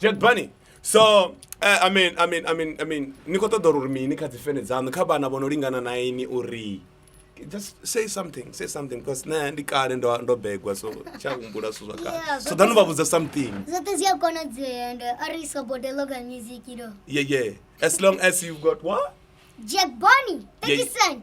Jed Bunny. So uh, I mean I mean I mean I mean ni khou ṱoḓa uri mini kha dzi fene dzaṋu kha vhana vho no lingana na ini uri just say something say something because nṋe ndi kale ndo ndo begwa so tsha humbula zwithu zwa kale Yeah, so zwoṱhe ḓanu vha zwi- vhudza something zwoṱhe zwi a konadzea and uh, ari sobote local music you know yeah yeah as long as you've got what jack bonny 30 Yeah. cent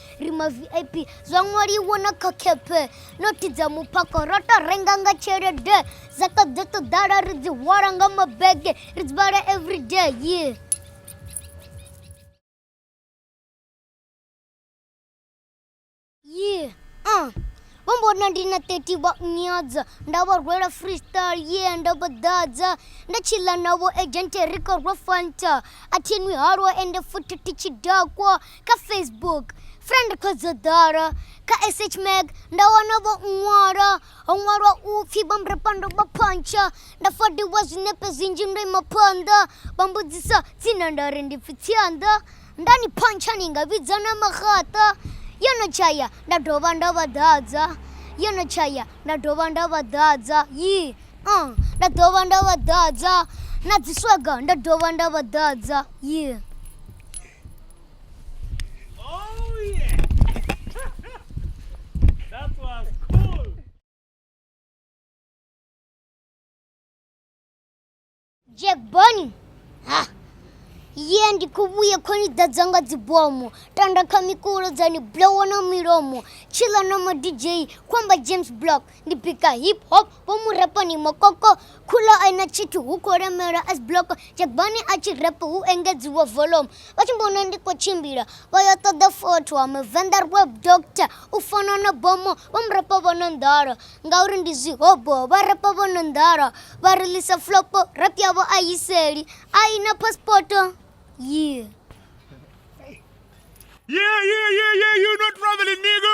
ri ma vip zwa ṅwaliwa na kha kepe nothi dza muphako ro to renga nga tshelede dza to ḓo to ḓala ri dzi hwala nga mabege ri dzi vhala everyday yeah yeah uh. vho mbona ndi na 30 vha nyadza nda vha rwela freestyle ye nda vha ḓadza nda tshila navho agente ri khou rwa fanta a thinwi halwa ende futhi thi tshi dakwa kha facebook friend khodzo ḓolo kha sh mag nda wana vho ṅwalo ho ṅwalwa u pfhi vhambrepando vha phontsho nda fodiwa zwinepe zwinzhi ndo ima phonḓo vha mbudzisa tsina nda ri ndi pfhi tsianḓo nda ni phontsha ni nga vhidza na maxaṱo yo no tshaya nda dovha nda vha ḓadza yo no tshaya nda dovha nda vha ḓadza yi uh, nda dovha nda vha ḓadza na dziswaga nda dovha nda vha ḓadza yi yeah. Jack Bonnie. Ha. Ye ndi khou vhuya kho ni ḓadza nga dzibomo tanda kha mikulo dza ni blowa na milomo tshila na ma DJ khou amba James Block ndi bika hip hop vho mu repo ni mokoko khulo a ina tshithu hu khou lemelwa as block jagbani a tshi repo hu engedziwa volume vha tshi mbona ndi khou tshimbila vha yo ṱoḓa fotho wa muvenḓa web doctor u fana na bomo vho mu repo vho no nḓala ngauri ndi zwihobo vha repo vho no nḓala vha rilisa flopo rap yavho a yiseli a ina paspoto yeah Yeah, yeah, yeah, yeah, you not traveling, nigga.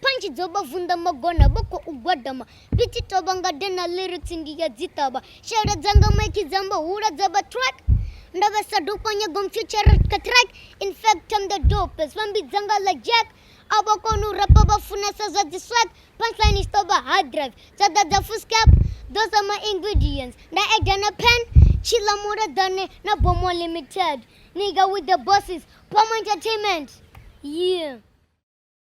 Punch dzo vha vunḓa magona vho khou gwadama ndi tshi tovha nga de na lyrics ndi ya dzi ṱavha shela dzanga maiki dza mbo hula dza vha track ndo vha sa dopa nyago mfuture ka track in fact I'm the dopest vha mbidza nga la jack a vha koni u rapa vha funesa zwa dzi swag punchline is tovha hard drive dza ḓa dza fuskap those are my ingredients nda eda na pen tshila muleḓane na bomo limited nigga with the bosses pom entertainment yeah